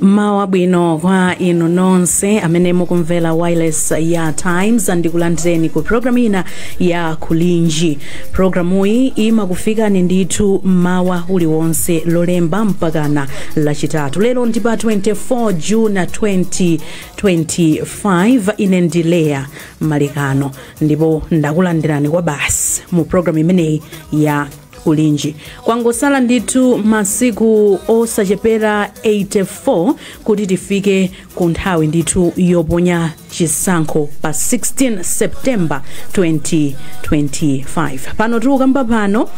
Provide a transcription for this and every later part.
mmawa wabwino kwa inu nonse amene mukumvera wireless ya times ndikulandireni ku programu ina ya kulinji programuyi imakufikani ndithu mmawa uliwonse lolemba mpakana lachitatu lero ndi pa 24 june 2025 ine ndi leya malekano ndipo ndakulandirani kwabasi mu programu imeneyi ya kulinji kwangotsala ndithu masiku osachepera 84 kuti tifike ku nthawi ndithu yoponya chisankho pa 16 september 2025 pano tikukamba pano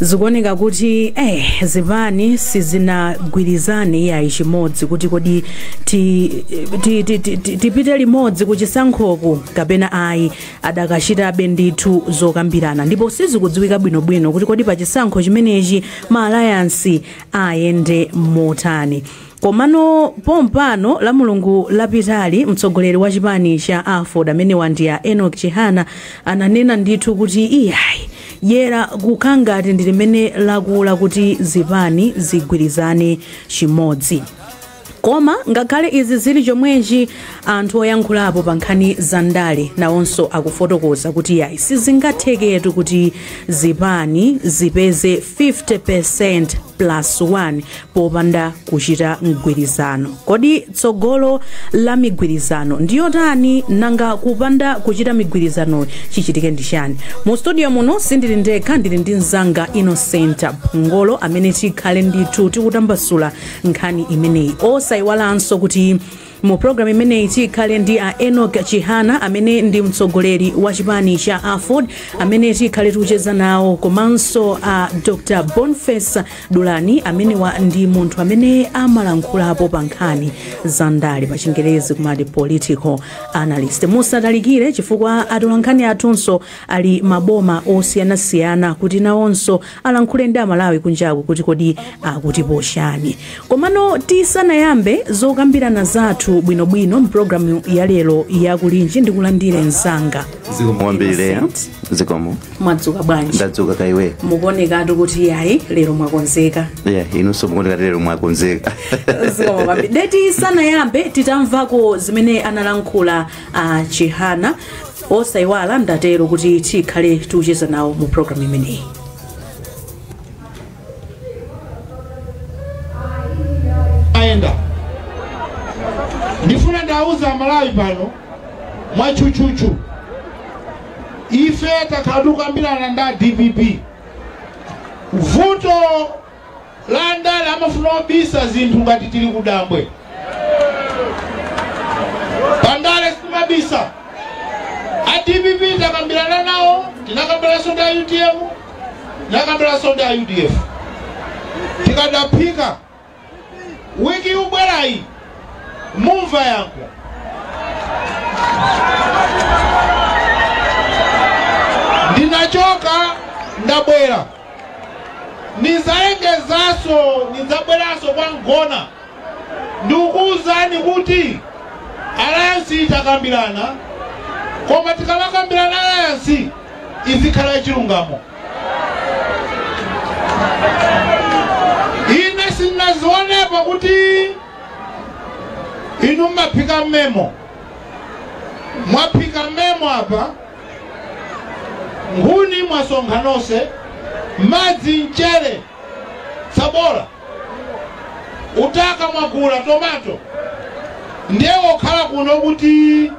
zikuoneka kuti eh, zipani sizinagwirizane iyayi chimodzi kuti kodi ti- ti- ti- ti- ti- tipite limodzi kuchisankhoku kapena ayi adakachitabe ndithu zokambirana ndipo sizikudziwika bwinobwino kuti kodi pa chisankho chimenechi ma alliance ayende motani komano pompano lamulungu lapitali mtsogoleri wa chipani cha aford amene wandiya enok chihana ananena ndithu kuti iyayi dyera kukhala ngati ndi limene lakula kuti zipani zigwirizane chimodzi Koma ngakhale izi zili chomwechi, anthu oyankhulapo pa nkhani za ndale nawonso akufotokoza kuti yayi sizingatheketu kuti zipani zipeze 50 percent plus 1 popanda kuchita mgwirizano. Kodi tsogolo la migwirizano ndi yotani? Nanga kupanda kuchita migwirizanoyi chichitike ndi chani? Mu studio muno sindili ndekha, ndili ndi mnzanga Innocent Mphongolo amene tikhale ndithu tikutambasula nkhani imeneyi osayiwalanso kuti mu programu imeneyi tikhale ndi a enok chihana amene ndi mtsogoleri wa chipani cha aford amene tikhale tikucheza nawo komanso a dr boniface dulani amenewa ndi munthu amene amalankhulapo pa nkhani za ndale pa chingerezi kumati political analyst musatalikire chifukwa atolankhani athunso ali m'maboma osiyanasiyana kuti nawonso alankhule ndi amalawi kunjaku kuti kodi akutipo chani komano tisanayambe zokambirana zathu bwinobwino mprogramu ya lero yakulinji ndikulandire mzanga zikomo kwambiri zikomo mwadzuka bwanji ndadzuka kaiwe mukuonekatu kuti yayi lero mwakonzeka yeah, inunso mukuoneka lero mwakonzeka zikomo kwambiri nde tisanayambe titamvako zimene analankhula a chihana osayiwala ndatero kuti tikhale tikucheza nawo mu programu imeneyi ayenda ndifuna ndauza amalawi pano mwatchutchutchu ife takhala tikukambirana ndi a dpp vuto la andale amafuna kubisa zinthu ngati tili kudambwe. Pa ndale sitimabisa. A dpp takambirana nawo, tinakambiranso ndi a utm, tinakambiranso ndi a udf. Tikadaphika wiki yubwerayi mumva yankho. Ndinachoka ndabwera. Nidzalengezanso, nidzabweranso kwa Mgona. Ndikukuuzani kuti alliance tikukambirana koma tikamakambirana alliance izikhala yachilungamo. Ine sinnazionepo kuti inu mmaphika mmemo mwaphika mmemo apa Nkhuni mwasonkha nose, madzi, mchere, tsabola, utaka mwagula, tomato ndiye wokhala kuno kuti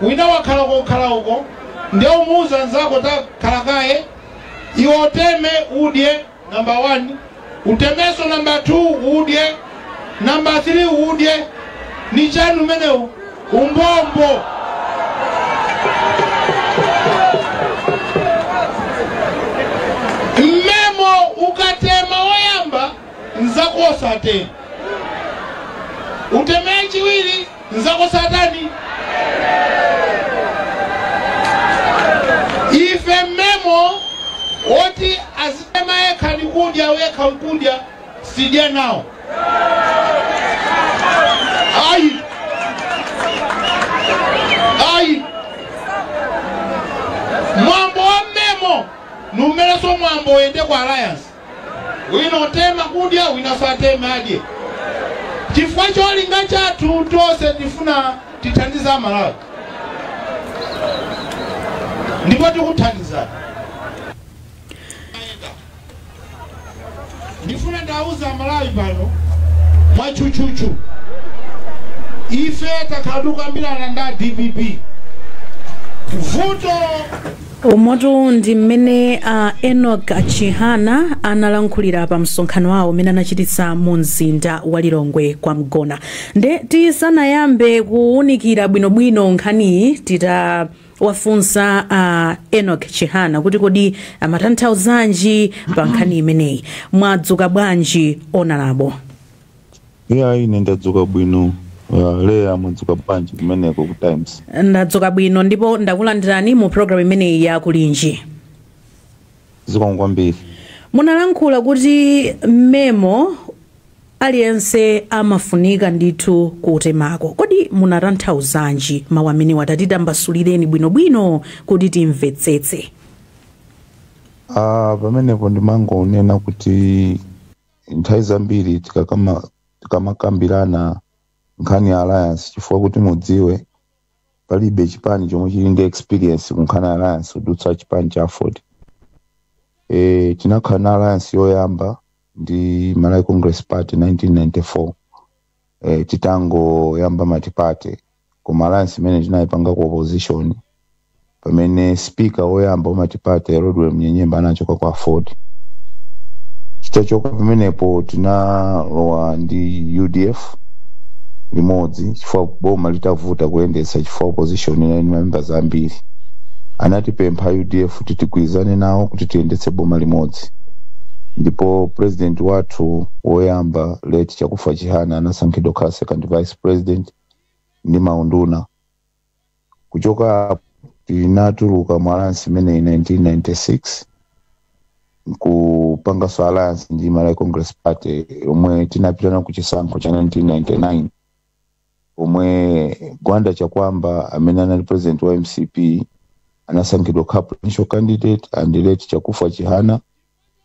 wina wakhala kukhala uko ndiye umuuza nzako takhala kaye iwe uteme. Number one, utemeso number two, udye number three, udye ni chani umenewu umbombo mmemo ukatema woyamba nzakosate utemee chiwiri Nzako satani? Ife mmemo oti azitema yekha ndi kudya wekha nkudya sidya nawo ayi ayi mwambo wa mmemo ndi umenewo mwambo oyende kwa alliance wina atema kudya wina satema adye chifukwa cholinga chathu tonse tifuna tithandize amalawi ndipo tikuthandizani ndifuna ndauza amalawi pano mwatchutchutchu ife takhala tikukambirana ndi a dpp vuto Umotu ndi mmene a Enock Chihana analankhulira pa msonkhano wawo umene anachititsa mu mzinda wa Lilongwe kwa Mgona. Nde tisanayambe kuwunikira bwinobwino nkhaniyi titawafunsa a Enock Chihana kuti kodi amatanthauzanji pa nkhani imeneyi. Mwadzuka bwanji onalabo? Iyayi ine ndadzuka bwino. Uh, Leya mwadzuka bwanji kumeneko ku Times? ndadzuka bwino ndipo ndakulandirani mu programu imeneyi ya Kulinji Zikomo kwambiri. munalankhula kuti memo aliyense amafunika ndithu kutemako kodi munatanthauzanji mawu amenewa tatitambasulireni bwinobwino kuti timvetsetse Ah, pamenepo ndimangonena kuti nthawi zambiri tikakama- tikamakambirana nkhani ya alliance chifukwa kuti mudziwe palibe chipani chomwe chili ndi experience ku nkhani ya alliance kudutsa chipani cha aford e, tinakhala na alliance yoyamba ndi malawi congress party 1994 eh, titangoyamba matipate koma alliance imene tinayipanga ku opposition pamene speaker woyamba wamatipate rodwell munyenyembe anachoka kwa aford titachoka pamenepo tinalowa ndi udf limodzi chifukwa boma litavuta kuyendetsa chifukwa opposition inali ndi mamembers ambiri anatipempha udf kuti tigwirizane nawo kuti tiyendetse boma limodzi ndipo president wathu woyamba late chakufa chihana anasankhidwa kukhala second vice president ndi maunduna kuchoka apo tinatuluka mu alliance imeneyi 1996 nkupanganso alliance ndi malawi congress party yomwe tinapitana ku chisankho cha 1999 pomwe gwanda chakuamba amene anali president wa mcp anasankhidwa kukhala presidential candidate and late chakufa chihana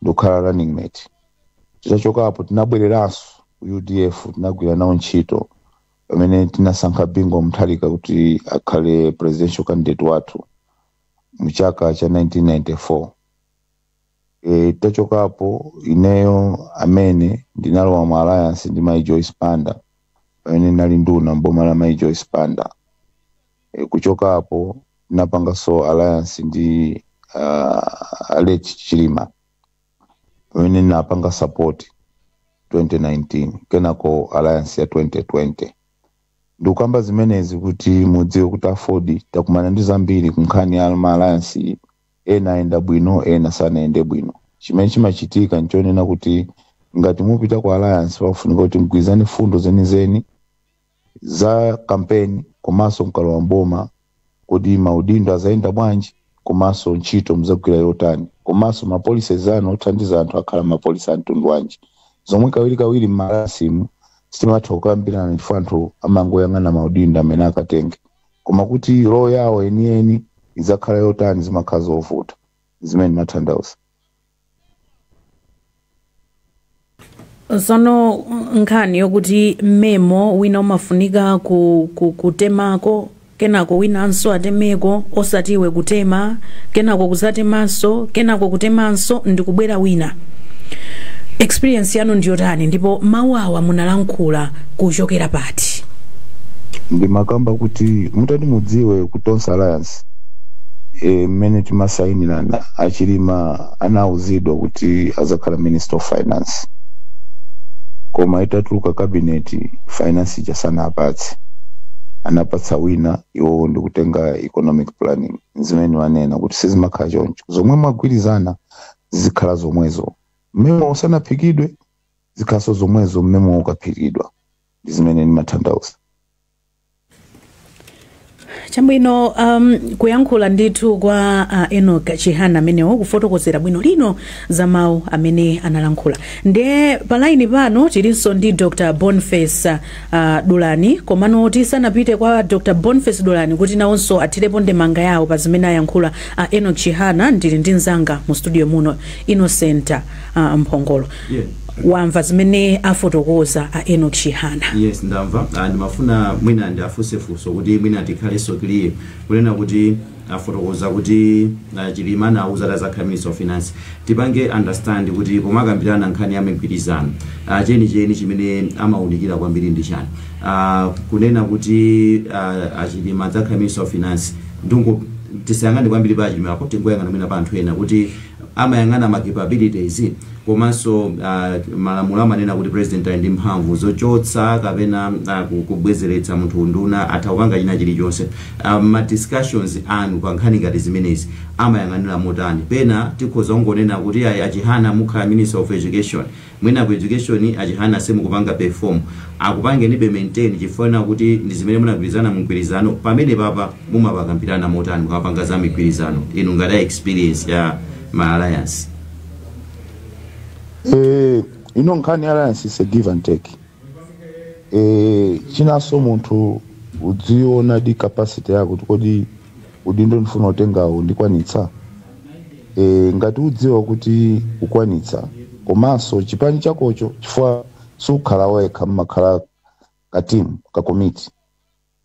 ndikukhala running mate titachoka apo tinabwereranso ku udf tinagwira nawo ntchito pamene tinasankha bingu wa mutharika kuti akhale presidential candidate wathu mu chaka cha 1994 e, titachoka apo ineyo amene ndinalowa mu alliance ndi mai joyce banda pamene ndinali nduna mboma la mai joyce banda e, kuchoka apo ndinapanganso alliance ndi uh, late chilima pamene ndinapanga support 2019 kenako alliance ya 2020 ndikukamba zimenezi kuti mudziwe kuti aford takumana ndi zambiri ku nkhani ya ma alliance iyi ena ayenda bwino ena sanayende bwino chimene chimachitika nchonena kuti ngati mupita ku alliance pakufunika kuti mgwirizane fundo zenizeni za kampeni komanso mkalowa mboma kodi maudindo azayenda bwanji komanso ntchito muzagwira yotani komanso mapolisi zanu othandiza anthu akhala mapolisi a mtundu wanji zomwe kawirikawiri m'ma alliance mu sitimatha kukambirana chifukwa anthu amangoyang'ana maudindo amene akatenge Koma kuti role yawo yeniyeni idzakhala yotani zimakhala zovuta. Ndizimene ndimathandauza. Tsono nkhani yokuti mmemo wina umafunika ku, ku, kutemako kenako winanso atemeko osati iwe kutema kenako kudzatemanso kenako kutemanso ndikubwera wina. Experience yanu ndiyotani ndipo mau awa munalankhula kuchokera pati? ati. ndimakamba kuti mutati mudziwe ku tonse alliance e, mmene timasayinirana achilima anauzidwa kuti azakhala minister of finance koma itatuluka cabinet finance ija sanapatse anapatsa wina iwowo ndikutenga economic planning zimene ndimanena kuti sizimakhala choncho zomwe mwagwirizana zikhala zomwezo mmemo usanaphikidwe zikhalenso zomwezo mmemo ukaphikidwa ndi zimene ndimathandauza chabwino um, kuyankhula ndithu kwa uh, enok chihana amenewo kufotokozera bwino lino za mawu amene analankhula nde palaini pano tilinso ndi dr boniface uh, dulani komano tisanapite kwa dr boniface dulani kuti nawonso athirepo ndemanga yawo pa zimene ayankhula uh, enok chihana ndili ndi mzanga mu studio muno innocent a mphongolo Yeah. wamva zimene afotokoza a enok chihana yes ndamva Ah, ndimafuna mwina ndiafunse funso kuti mwina tikhalenso clear kunena kuti afotokoza kuti ah, chilima anauzidwa kuti azakhala minister of finance tipange understand kuti pomakambirana nkhani ya migwirizano ah, chenicheni chimene amaunikira kwambiri ndi chani Ah, kunena kuti ah, achilima adzakhala minister of finance ndingoti tisayang'ane kwambiri pa achilima apo tingoyang'ana mwina pa anthu ena kuti amayang'ana ma capabilities komanso malamulo amanena kuti president ali ndi mphamvu zochotsa kapena kubwezeretsa munthu unduna, atha kupanga china chilichonse. Ma discussions anu pa nkhani ngati zimenezi amayang'anira motani? Pena tikhoza kungonena kuti ayi a Chihana mukhala minister of education. Mwina ku education a Chihana simukupanga perform, akupangenibe maintain chifukwa kuti ndi zimene munagwirizana mu mgwirizano, pamenepapa mumapakambirana motani mukamapanga za migwirizano inu ngati a experience ya ma alliance? Eh, ino nkhani ya alliance is a give and take. Eh, chinanso munthu udziona the capacity yako kuti kodi Udindo ndifuna kutengawu ndikwanitsa? Eee ngati udziwa kuti ukwanitsa komanso chipani chakocho chifukwa sukhala wekha mmakhala ka team ka komiti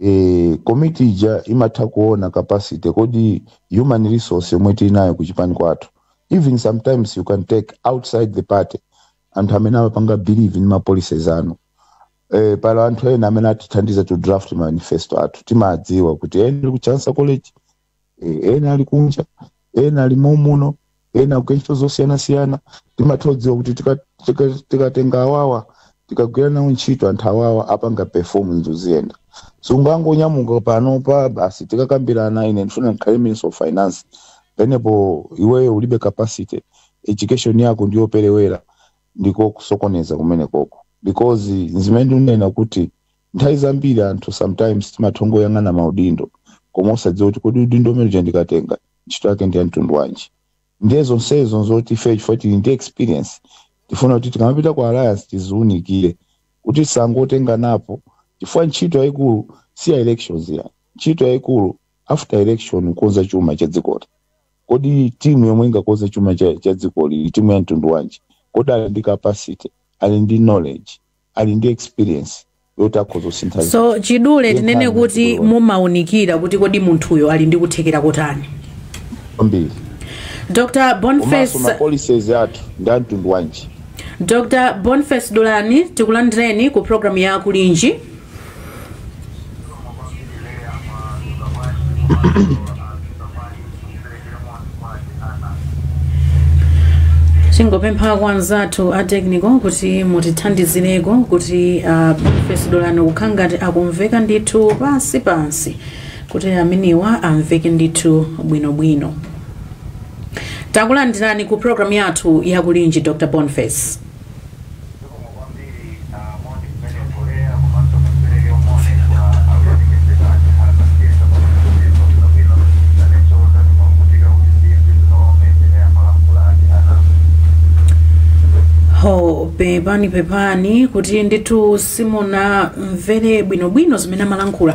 ee komiti ija imatha kuona capacity kodi human resource yomwe tili nayo ku chipani kwathu even sometimes you can take outside the party anthu amene amapanga believe in ma policies anu Eh, pali anthu ena amene atithandiza to draft manifesto athu timadziwa kuti ena ali ku Chancellor College eh, ena ali kunja ena ali momuno ena akukantchito zosiyanasiyana timatha kudziwa kuti tika- tika- tikatenga awawa tikagwira nawo ntchito anthu awawa apanga perform zinthu ziyenda sungangonyamuka pano pa basi tikakambirana ine ndifuna ndikhale minister of finance penepo iweyo ulibe capacity education yako ndiyoperewera ndiko kusokoneza kumenekoko because nzimene ndinena kuti nthawi zambiri anthu sometimes timatha kungoyang'ana maudindo koma osadziwa kuti kodi udindo umene uja ndikatenga ntchito yake ndi ya mtundu wanji ndiye zonsezo nzoti ife chifukwa tili ndi experience tifuna kuti tikamapita ku alliance tiziunikire kuti osangotenga napo chifukwa ntchito yayikulu si ya elections ayi ntchito yayikulu after election kukonza chuma cha dzikoli Kodi team yomwe ingakonze chuma cha dzikoli ndi team ya mtundu wanji? Kodi ali ndi capacity? Ali ndi knowledge? Ali ndi experience yoti akhoza kusintha zinthu? Ndiye nkhani yachidule kwambiri. So mwachidule tinene kuti mumaunikira kuti kodi munthuyo ali ndi kuthekera kotani. Kwambiri. Dr. Boniface Komanso ma policies athu ndi a mtundu wanji? Dr. Boniface Dulani tikulandireni ku programu ya Kulinji. tingopempha kwa anzathu a technical kuti mutithandizireko kuti a Boniface Dulani kukhala ngati akumveka ndithu pansi pansi kuti amenewo amveke ndithu bwinobwino takulandirani ku programu yathu yakulinji dr boniface ho pepani pepani kuti ndithu simunamvere bwinobwino zimene amalankhula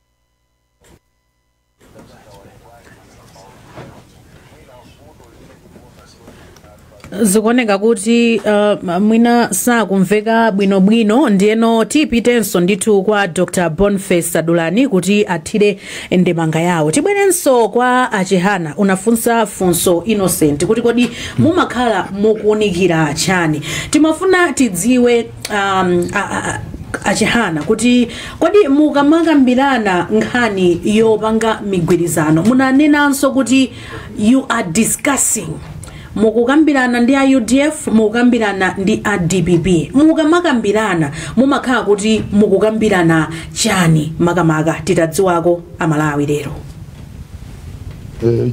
zikuoneka kuti uh, mwina sakumveka bwinobwino ndiyeno tipitenso ndithu kwa dr boniface dulani kuti athire ndemanga yawo tibwerenso kwa a Chihana unafunsa funso innocent kuti kodi mumakhala mukuunikira chani timafuna tidziwe um, a- a- a- a Chihana kuti kodi mukamakambirana nkhani yopanga migwirizano munanenanso kuti you are discussing mukukambirana ndi a udf mukukambirana ndi a dpp mukamakambirana mumakhala kuti mukukambirana chani makamaka titadziwako amalawi lero Eh,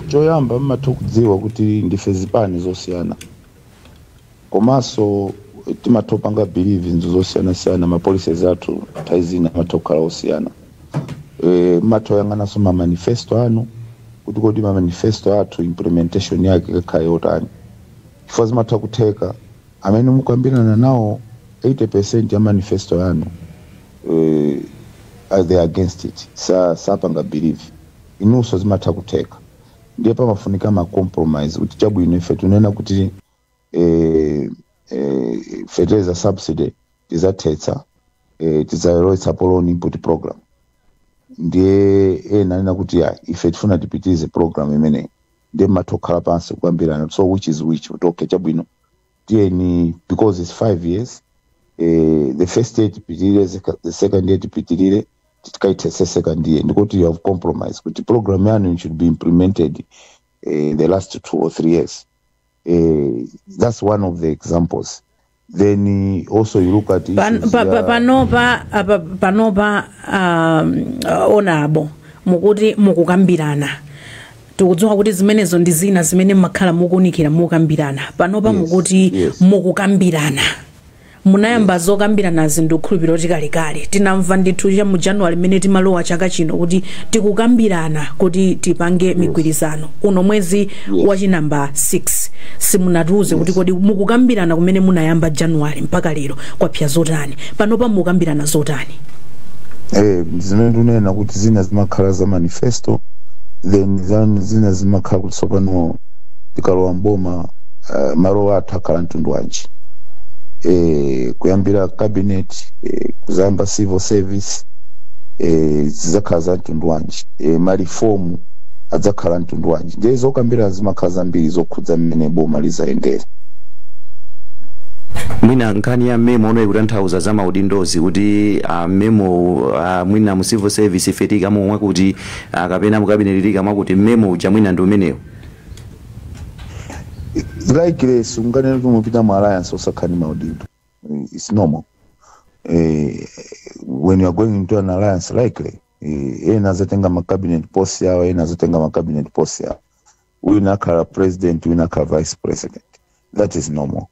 choyamba mmatha kudziwa kuti ndife zipani zosiyana Komaso timatha kupanga believe zinthu zosiyana siyana ma policies athu nthawi zina amatha kukhala osiyana ee mmatha kuyang'anaso ma manifesto athu kuti kodi ma manifesto athu implementation yake ikakhala yotani chifukwa zimatha kutheka amene mukukambirana nawo 80% ya manifesto yanu ee they are against it sa sapanga believe inuso zimatha kutheka ndiye pamafunika ma compromise kuti chabwino ife timanena kuti eh, eh, fertilizer subsidy tizathetsa eh, tidzalowetsa pa loan input program ndiye ena anena kuti ya ife tifuna tipitilize program imeneyi ndiye mmatha kukhala pansi kukambirana so which is which ndi kuti okay chabwino tiyeni because it's five years eh, the first year tipitirire sec- the second year tipitirire tikaithetse second year ndikuti you have compromised kuti program yanu should be implemented eh, in the last two or three years eh, that's one of the examples then eh, also you look at Pan- issues pa- pa- ya- panopa apa- panopa um, uh, Honourable mukuti mukukambirana tikudziwa kuti zimenezo ndi zina zimene mmakhala mukuunikira mukukambirana panopa Yes, mukuti yes. mukukambirana Munayamba zokambiranazi ndikukhulupilira kuti kalekale. Tinamva ndithu cha mu January mmene timalowa chaka chino kuti tikukambirana kuti tipange Yes. migwirizano. Uno mwezi wa Yes. chi number 6. Simunatiuze kuti Yes. kodi mukukambirana kumene munayamba January mpaka lero kwapsa zotani. Panopa mukukambirana zotani? Eh, zimene timanena kuti zina zimakhala za manifesto then zan- zina zimakhala kuti tsopano tikalowa mboma uh, malo athu akhala mtundu wanji eh, kuyambira cabinet eh, kuzayamba civil service eh, zidzakhala za mtundu wanji eh, marifomu adzakhala mtundu wanji ndiye zokambirana zimakhala zambiri zokhudza mmene boma lizayendera mwina nkhani ya mmemo uno ikutanthauza za maudindozi kuti uh, mmemo uh, mwina mu civil service ife tikamwa kuti Ah, kapena mukabineti tikamwa kuti mmemo uja mwina ndi umenewo likely sunganene kuti mukupita mu alliance osakhala ndi maudindo its normal eh, when you are going into an alliance likely eh, ena azatenga ma cabinet post yawo ena azatenga ma cabinet post yawo wina akhala president wina akhala vice president that is normal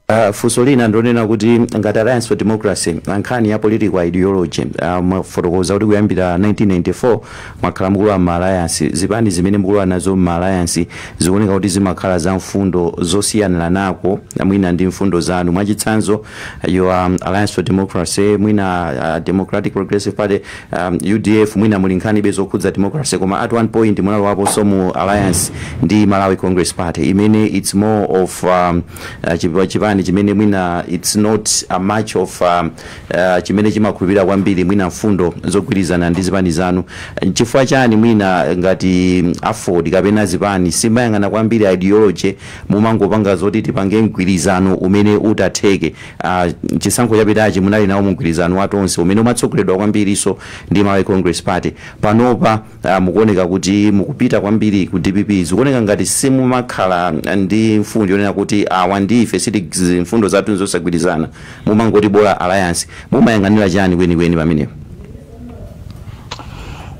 Uh, funso lina ndi lonena kuti ngati alliance for democracy nkhani ya political ideology uh, mwafotokoza kuti kuyambira 1994 mwakhala mukulowa m'ma alliance zipani zimene mukulowa nazo m'ma alliance zikuoneka kuti zimakhala za mfundo zosiyaniranako mwina ndi mfundo zanu mwachitsanzo your um, alliance for democracy mwina uh, democratic progressive party Udf mwina muli nkhani be zokhudza democracy koma at one point munalowaponso mu alliance ndi Malawi Congress Party imene it's more of um, uh, chipa- chipani chimene mwina it's not a much of um, uh, chimene chimakhulupirira kwambiri mwina mfundo zogwirizana ndi zipani zanu chifukwa chani mwina ngati aford kapena zipani simuyang'ana kwambiri ideology mumangopanga zoti tipange mgwirizano umene utatheke a chisankho chapitachi munali nawo mumgwirizano wa Tonse umene umatsogoleredwa kwambirinso ndi Malawi Congress Party. Panopa a mukuoneka kuti mukupita kwambiri ku dpp. Zikuoneka ngati simumakhala ndi mfundo yonena kuti awa ndi ife siti- mfundo zathu nzosagwirizana. Mumangoti bola alliance. Mumayang'anira chani kwenikweni pamenepo?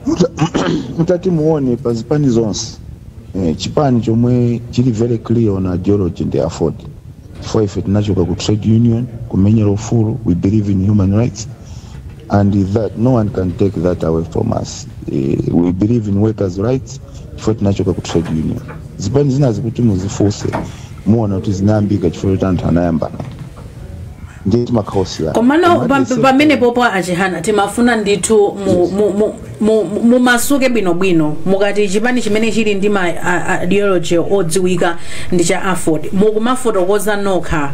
Muta- mutati muone pa zipani zonse eh, chipani chomwe chili very clear on ideology ndi aford chifukwa ife tinachoka ku trade union kumenyera ufulu we believe in human rights and that no one can take that away from us eh, we believe in workers rights chifukwa tinachoka ku trade union zipani zinazi kuti muzifunse muona kuti zinayambika chifukwa choti anthu anayambana ndiye timakhala osiyana komano pam- pamenepopo a Chihana timafuna ndithu mu, mu, mu, mu- mu- mumasuke bwinobwino mukati chipani chimene chili ndi ma a- a- ideology odziwika ndi cha aford mukumafotokoza nokha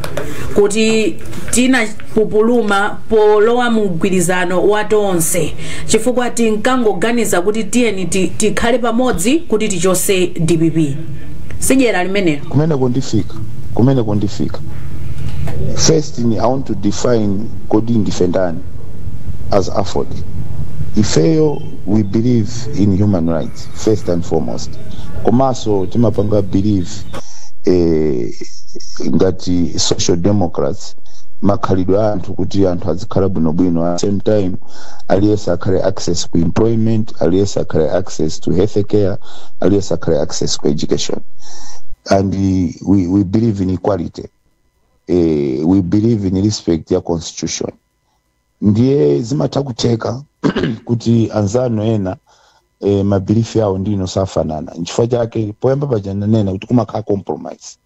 kuti tinapupuluma polowa mu mgwirizano wa tonse chifukwa tinkangoganiza kuti tiyeni ti- tikhale pamodzi kuti tichose dpp si dyera limenelo kumene kundifika kumene kundifika first i want to define kodi ndife ndani as aford ifeyo we believe in human rights first and foremost komanso timapanga believe eh, ngati social democrats makhalidwe a anthu kuti anthu azikhala bwinobwino at the same time aliyense akhale access ku employment aliyense akhale access to health care aliyense akhale access ku education and we, we believe in equality eh, we believe in respect ya constitution ndiye zimatha kutheka kuti anzanu ena eh, mabilifi awo ndi inu osafanana nchifukwa chake poyamba paja nanena kuti kumakhala compromise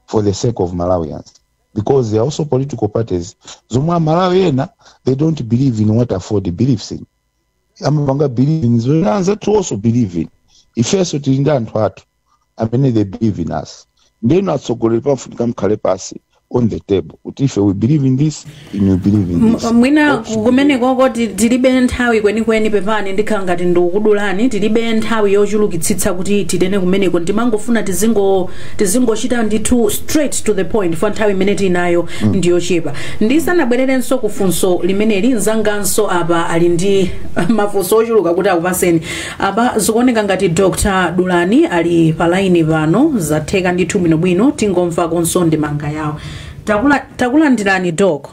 for the sake of malawians because there are also political parties zomwe amalawi ena they don't believe in what aford believes in amapanga believe in zomwe anzathu also believe in ifenso tili ndi anthu athu amene they believe in us ndeno atsogoleri pafunika nkukhala pansi on the table kuti ife we believe in this and you believe in this M- mwina ku- kumenekoko ti- tilibe nthawi kwenikweni pepani ndikhala ngati ndikudulani tilibe nthawi yochulukitsitsa kuti titene kumeneko ndimangofuna tizingo tizingochita ndithu straight to the point chifukwa nthawi imene tinayo ndiyochepa ndisanabwererenso ku funso limeneli mzanganso apa ali ndi mafunso ochuluka kuti akupaseni Apa zikuoneka ngati Dr Dulani ali pa line pano, zatheka ndithu bwinobwino, tingomvakonso ndemanga yawo. Takula- Takulandirani Doc.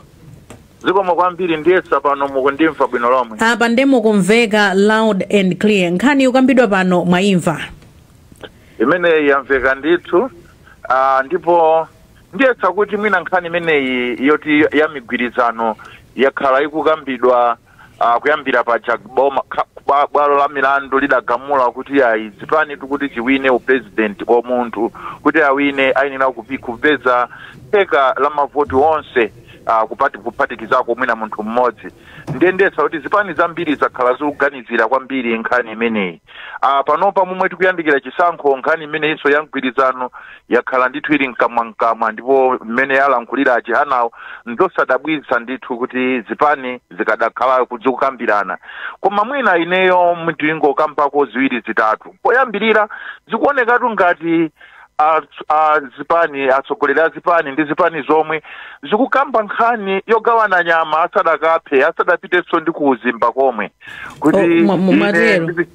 zikomo kwambiri ndiyesa pano mukundimva bwino lomwe Apa nde mukumveka loud and clear. Nkhani ikukambidwa pano mwaimva. imeneyi yamveka ndithu ah, ndipo ndiyesa kuti mwina nkhani imeneyi yoti ya migwirizano yakhala ikukambidwa Uh, kuyambira paja bwalo la milandu lidagamula kuti ayi chipani kuti chiwine upresident kwa munthu kuti awine ayenera kupeza theka la mavoti onse uh, kuphati, kuphatikizako mwina munthu mmodzi nde ndiyesa kuti zipani zambiri zakhala zikuganizira kwambiri nkhani imeneyi Ah, panopa momwe tikuyandikira chisankho nkhani imeneyinso ya mgwirizano yakhala ndithu ili mkamwamkamwa ndipo mmene alankhulira a Chihanawo nzosadabwitsa ndithu kuti zipani zikadakhala zikukambirana koma mwina ineyo ndingokambako ziwiri zitatu poyambirira zikuonekatu ngati a, a zipani atsogoleri a zipani ndi zipani zomwe zikukamba nkhani yogawana nyama asadaiphe asadapitenso ndi kuuzimba komwe kuti Oh, mwa- mwa- ine mwatero. ndi-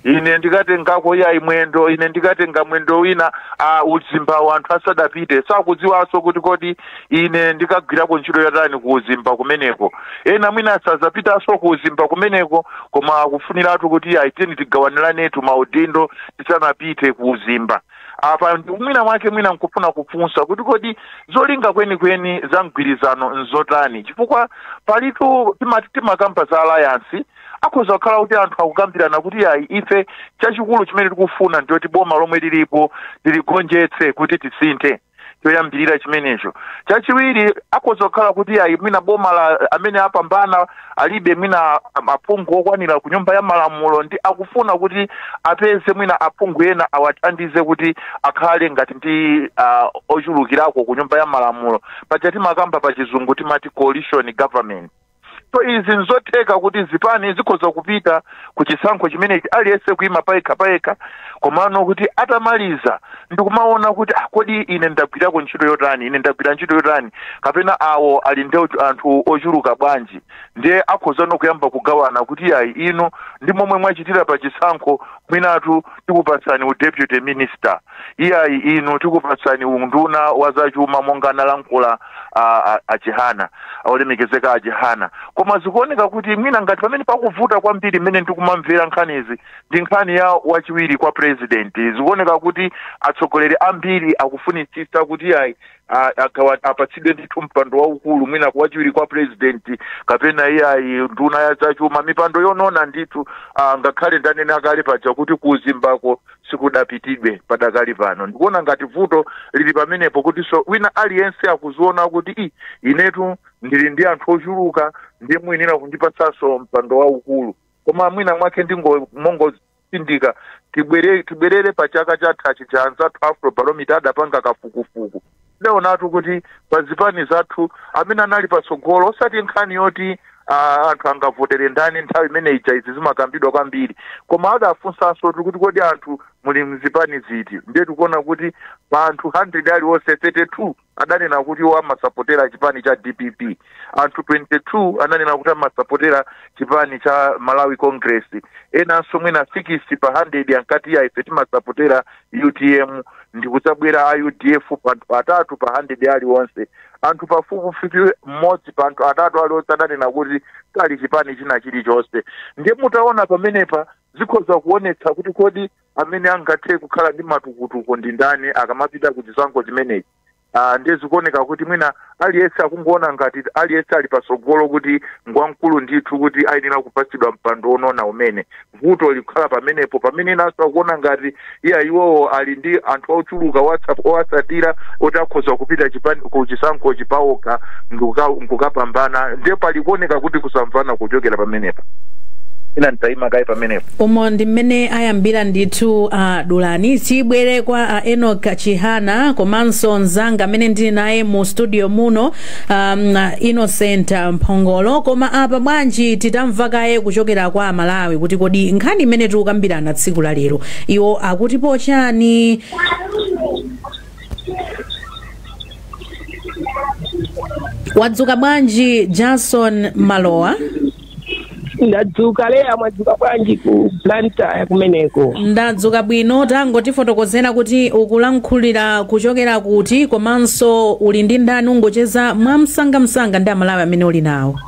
ine ndikatengako yayi mwendo ine ndikatenga mwendo wina a uzimbawo anthu asadapite sakudziwanso kuti kodi ine ndikagwirako ntchito yotani ku uzimba kumeneko ena mwina sazapitanso ku uzimba kumeneko koma akufuniratu kuti ayi tiyeni tigawaniranetu maudindo tisanapite ku uzimba apa ndiye mwina mwake mwina nkufuna kufunsa kuti kodi zolinga kwenikweni za mgwirizano nzotani chifukwa palitu timati timakamba za alliance akhoza kukhala kuti anthu akukambirana kuti ayi ife chachikulu chimene tikufuna ndiyoti boma lomwe lilipo tiligonjetse kuti tisinthe choyambirira chimenecho chachiwiri akhoza kukhala kuti ayi mwina boma la amene apambana alibe mwina am- aphungu okwanira ku nyumba ya malamulo nde akufuna kuti apeze mwina aphungu ena awathandize kuti akhale ngati ndi uh, ochulukirako ku nyumba ya malamulo paja timakamba pa chizungu timati coalition government so izi nzotheka kuti zipani zikhoza kupita ku chisankho chimenechi aliyense kuima payekha payekha komano kuti atamaliza ndikumaona kuti ah, kodi ine ndagwirako ntchito yotani ine ndagwira ntchito yotani kapena awo ali ndi ochu- anthu ochuluka bwanji ndiye akhoza no kuyamba kugawana kuti ayi inu ndi momwe mwachitira pa chisankho mwinatu tikupatsani u deputy minister iyayi inu tikupatsani unduna wa zachuma monga analankhula a, a, a chihana olemekezeka a chihana koma zikuoneka kuti mwina ngati pamene pakuvuta kwambiri mmene ndikumamvera nkhanizi ndi nkhani ya wachiwiri kwa president zikuoneka kuti atsogoleri ambiri akufunitsitsa kuti iyayi a- agawa- apatsidwe ndithu mpando waukulu mwina kwa wachiwiri kwa president kapena iyayi nduna ya zachuma mipando yonona ndithu ah, ngakhale ndanena kale paja kuti kuuzimbako sikudapitidwe padakali pano. Ndikuona ngati vuto lili pamenepo kuti so wina aliyense akuziona kuti i inetu ndili ndi anthu ochuluka ndiye muyenera kundipatsanso mpando waukulu koma mwina mwake ndingo mongotsindika tibwere tibwerere pa chaka chathachi cha anzathu afrobarometer adapanga kafukufuku Tidaonatu kuti pa zipani zathu amene anali patsogolo osati nkhani yoti ah, anthu angavotere ndani nthawi imene ija izi zimakambidwa kwambiri koma adafunsanso kuti kodi anthu muli mzipani ziti ndiye tikuona kuti pa anthu 100 aliwonse 32 adanena kuti iwo amasapotera chipani cha dpp anthu 22 ananena kuti amasapotera chipani cha malawi congress enanso mwina 6 pa 100 ankati ayi ife timasapotera utm ndikudzabwera a udf pa anthu atatu pa 100 aliwonse anthu pafupifupi mmodzi pa anthu atatu aliwonse adanena kuti sali chipani china chilichonse ndiye mutaona pamenepa zikhoza kuonetsa kuti kodi amene angathe kukhala ndi matukutuku ndi ndani akamapita ku chisankho chimenechi Ah, ndiye zikuoneka kuti mwina aliyense akungoona ngati aliyense ali patsogolo kuti ngwamkulu ndithu kuti ayenera kupatsidwa mpando wonona umene vuto likukhala pamenepo pamene enanso akuona ngati iya iwowo ali ndi anthu ochuluka owatsa- owatsatira oti akhoza kupita chipani ku chisankho chipawokha ndikuka- nkukapambana ndiye pakuoneka kuti kusamvana kuchokera pamenepo ine nditayima kaye pamenepo umo ndi mmene ayambira ndithu a dulani tibwere kwa a enok chihana komanso mzanga amene ndili naye mu studio muno um, innocent mphongolo koma apa bwanji titamva kaye kuchokera kwa amalawi kuti kodi nkhani imene tikukambirana tsiku la lero iwo akutipo chani wadzuka bwanji jason malowa ndadzuka leya mwadzuka bwanji ku blantyre kumeneko ndadzuka bwino tangotifotokozera kuti ukulankhulira kuchokera kuti komanso uli ndi ndani ungocheza mwamsangamsanga ndi amalawi amene uli nawo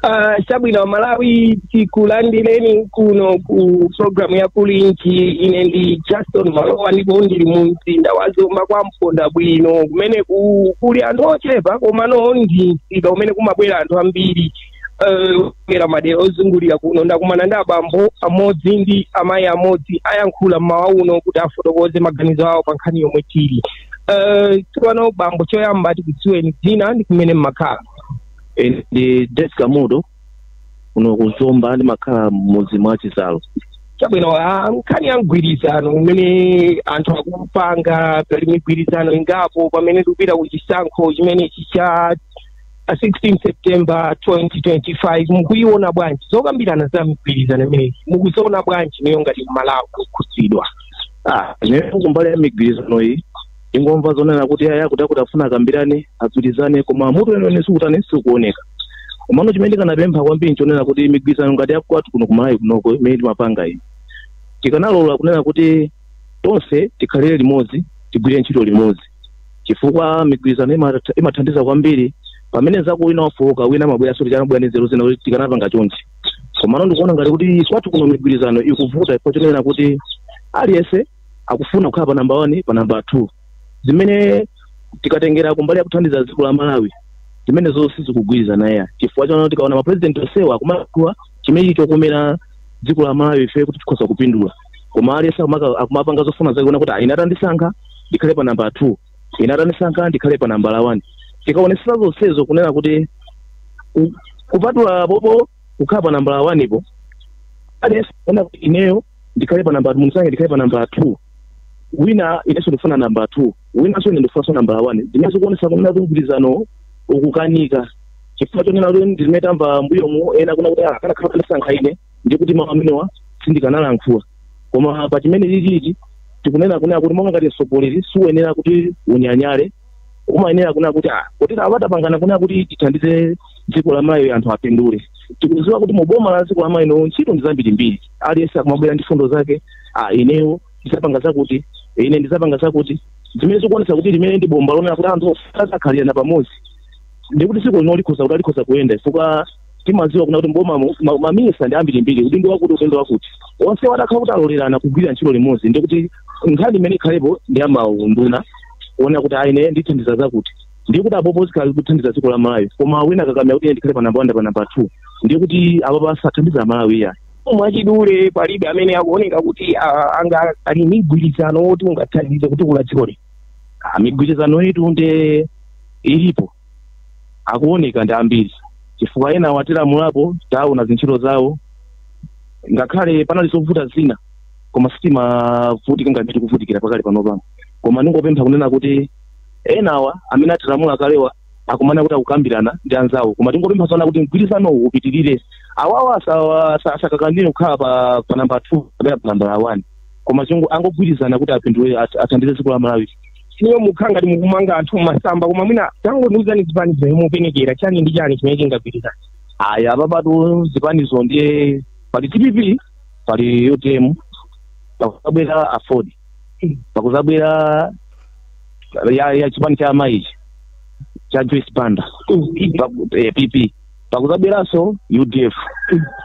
Ah, chabwino amalawi tikulandireni kuno ku programu ya kulinji ine ndi justin malowa ndipo ndili mu mzinda wa zomba kwa mponda bwino kumene ku- kuli anthu ochepa komano ndi msika umene kumabwera anthu ambiri ochokera madera ozungulira kuno ndakumana ndi abambo amodzi ndi amayi amodzi ayankhula mmawa uno kuti afotokoze maganizo awo pa nkhani yomwe tili Eh, tsopano bambo choyamba tikudziweni dzina ndi kumene mmakhala Eh, ndi Deska Mudo kuno kuzomba ndimakhala mmudzi mwa chizalo chabwino ah, nkhani ya mgwirizano umene anthu akupanga pali migwirizano ingapo pamene tikupita ku chisankho chimenechi cha 16 september 2025 mukuiona bwanji zokambirana za migwirizano imeneyi mukuziona bwanji inuyo ngati mmalawi kukhudzidwa Ah, ine kumbali ya migwirizano iyi tikungomva zonena kuti aya kuti akuti afuna akambirane agwirizane koma mutu weniweni sikutani sikuoneka komano chimene tikanapempha kwambiri nchonena kuti migwirizano ngati yakwathu kuno kumalawi kunoko imene timapanga iyi tikanalola kunena kuti tonse tikhalire limodzi tigwire ntchito limodzi chifukwa migwirizano imat- imathandiza kwambiri pamene mnzako wina wafowoka wina amabwera zoti akanabwera ndi nzeru zina kuti tikanapanga chonchi komano ndikuona ngati kuti kwathu kuno migwirizano ikuvuta chifukwa chonena kuti aliyense akufuna kukhala pa namba 1 pa namba 2 zimene tikatengera kumbali ya kuthandiza dziko la Malawi zimenezo sizikugwirizana iyayi chifukwa chani tikaona ma president onsewa akumanena chimenechi chokomera dziko la Malawi ife kuti tikhoza kupindula koma aliyense akumaka- akumapanga zofuna zake kuona kuti "Ah, ine atandisankha ndikhale pa namba 2 ine atandisankha ndikhale pa nambala 1 tikaonesera zonsezo kunena kuti ku- kupatula popo kukhala pa nambala 1 po aliyense kuona kuti ineyo ndikhale pa namba mundisankhe ndikhale pa namba 2 wina inenso ndikufuna namba 2 winanso ine ndikufunanso namba 1 zimene zikuonesa kunena kuti mgwirizano ukukanika chifukwa chonena kuti ndizimene tamva mbuyomu ena kunena kuti "Ah, akanakhala anandisankha ine ndi kuti mawu amenewa sindikanalankhula koma pa chimenechichi tikunena kunena kuti monga ngati mtsogoleri siuyenera kuti unyanyale umayenera kunena kuti ah popeza apa tapangana kunena kuti tithandize dziko la malawi anthu apindule tikudziwa kuti mu boma la dziko la malawi lino ntchito ndi zambirimbiri aliyense akumabwera ndi mfundo zake ah ineyo ndizapanga zakuti ine ndizapanga zakuti zimene zikuonetsa kuti limene ndi bomba lonena kuti anthu azakhalirana pamodzi ndikuti dziko lino likhoza kuti alikhoza kuyenda chifukwa timadziwa kunena kuti m'bomamu ma- maminista ndi ambirimbiri udindo wakuti udindo wakuti onse watakhala kuti alolerana kugwira ntchito limodzi ndi kuti nkhani imene ikhalepo ndi ya maunduna kuona kuti ine ndithandiza zakuti ndiye kuti apopo zikhala kuthandiza dziko la malawi koma wina akakamira kuti ine ndikhale pa namba wani pa namba two ndiye kuti apopo sathandiza malawi iyayi mwachidule palibe amene akuoneka kuti ah, anga ali ndi mgwirizano woti ungathandize kutukula dzikoli Ah, migwirizano yetu nde ilipo akuoneka ndi ambiri chifukwa enawa atilamulapo taona zintchito zawo ngakhale panali zovuta zina koma sitimavutika ngati tikuvutikira pakali pano pano koma ndingopempha kunena kuti enawa amene atilamula kalewa akumana kuti akukambirana ndi anzawo koma tingopempha zonena kuti mgwirizano uwu upitirire awawa asawa- asa- asakakamire kukhala pa, pa namba 2 kapena pa namba 1 koma chongo angogwirizana kuti apindule at- athandize dziko la malawi ineyo mukukhala ngati mukumanga anthu mmasamba koma mwina tangondiuzani zipani zimene mukupenekera chani ndi chani chimene chingagwirizana ayi apapatu zipanizo ndiye pali dpp pali utm pakuzabwera aford pakuzabwera ya, ya chipani cha amayi ichi cha joyce banda Mm. Pa- eh, pp pakuzabweranso udf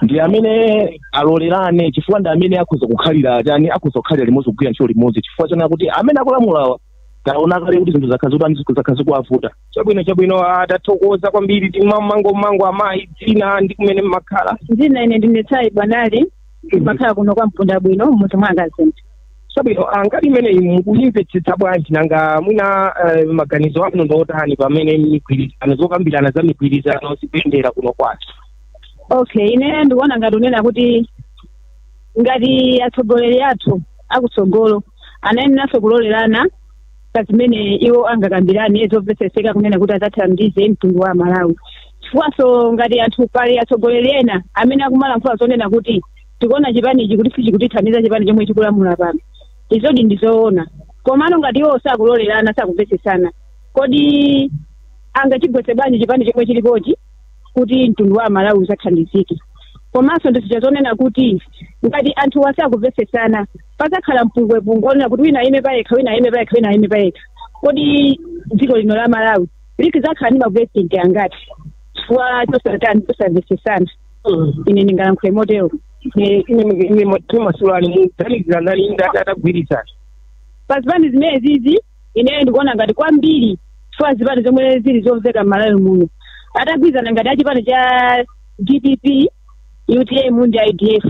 ndi amene alolerane chifukwa ndi amene akhoza kukhalira tani akhoza kukhalira limodzi kugwira ntchito limodzi chifukwa chonena kuti amene akulamulawa taona kale kuti zinthu zakhala zikutani zakhala zikuwavuta chabwino chabwino tathokoza kwambiri timveko mayi dzina ndi kumene mmakhala dzina ine ndine tsayi bwanali ndimakhala kuno kwa mpunda bwino munthu mwa akazinthu chabwino ah, nkhani imeneyi mukuyimvetsetsa bwanji nanga mwina eh, maganizo anu ndi otani pamene migwirizano zokambirana za migwirizano zikuyendera kuno kwathu okay ine ndikuona ngati kunena kuti ngati atsogoleri athu akutsogolo amayeneranso kulolerana pa zimene iwo angakambirane zomvetsetseka kunena kuti adzathandize mtundu wa malawi chifukwanso ngati anthu pali atsogoleri ena amene akumalankhula zonena kuti tikuona chipani ichi kuti sichikutithandiza chipani chomwe chikulamula pano izodi ndi zoona komano ngati iwo sakulolerana sakumvetsetsana kodi angachigwetse bwanji chipani chomwe chilipochi kuti mtundu wa malawi uzathandizike komanso ndizija zonena kuti ngati anthuwa sakumvetsetsana pazakhala mpungwepungwe onena kuti wina ayime payekha wina ayime payekha wina ayime payekha kodi dziko lino la malawili lizakhala ndi mapulezidenti angati chifukwa chosatani chosamvetsetsana ine ndingayankhule motero ine timasulani muganizira ndani inde atagwirizana pa zipani zimenezizi ineyo ndikuona ngati kwambiri chifukwa zipani zomwe zili zomveka m'malawi muno atagwirizana ngati a chipani cha dpp utm ndi a udf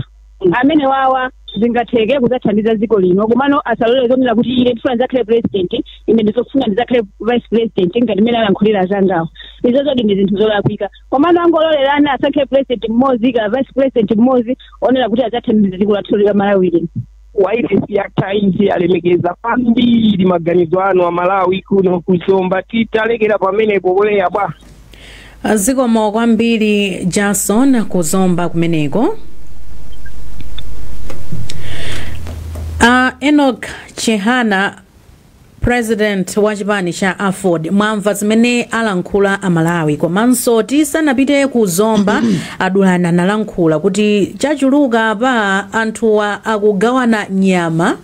amenewawa zingatheke kuzathandiza dziko lino komano asalole zonena kuti ine ndifuna ndizakhale president ine ndizafuna ndizakhale vice president ngati mmene alankhulira azangawo izozodi ndi zinthu zolakwika komano angololerani asankhe president mmodzi ndi vice president mmodzi onena kuti adzathandiza dziko lathu la malawi lino wailesi ya times yalemekeza kwambiri maganizo anu Amalawi kuno ku Zomba titalekera pamenepo kuleya bwa zikomo kwambiri Jason ku Zomba kumeneko a enoch chihana President wa chipani cha aford mwamva zimene alankhula amalawi komanso tisanapite ku zomba a Dulani analankhula kuti chachuluka apa anthuwa akugawana nyama